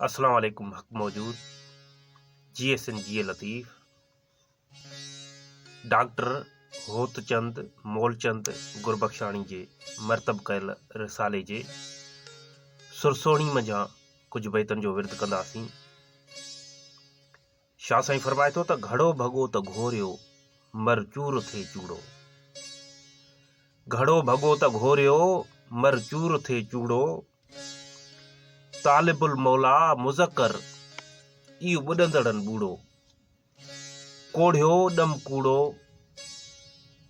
اسلام عليڪم حق موجود جي ايس اين جي اي لطيف ڊاڪٽر هوتچند مولچند گربخشاڻي جي مرتب ڪيل رسالي جي سرسوڻي منجهان ڪجهه بيتن جو ورد ڪنداسين شاهه سائين فرمائي ٿو ته گهڙو ڀڳو ته گهوريو مر چور ٿي چوڙو گهڙو ڀڳو ته گهوريو مر چور ٿي چوڙو طالب المولا مذڪر ايو ٻڏندڙن ٻوڙو ڪوڙهيو ڏم ڪوڙو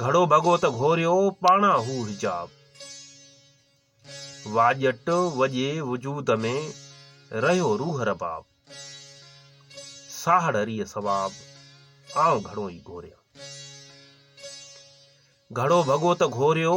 گهڙو ڀڳو ته گهوريو پاڻان هو حجاب. واڄٽ وڄي وجود ۾ رهيو روح رباب. ساهڙ ريء ثواب آئون گهڙو ئي گهوريان. گهڙو ڀڳو ته گهوريو.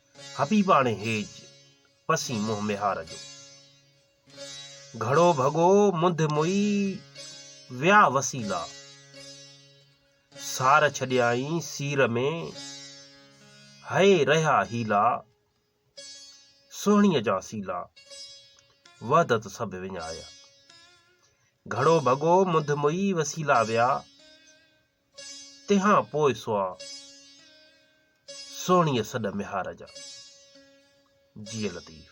حبيباڻي هيج پسين منهن ميهار جو. گهڙو ڀڳو منڌ موئي ويا وسيلا. سار ڇڏيائين سير ۾ هئي رهيا حيلا. سهڻيء جا سيلا وحدت سڀ وڃايا. گهڙو ڀڳو منڌ موئي وسيلا ويا. تنهان پوء سوا سهڻيء سڏ ميهار جا. جيء لطيف.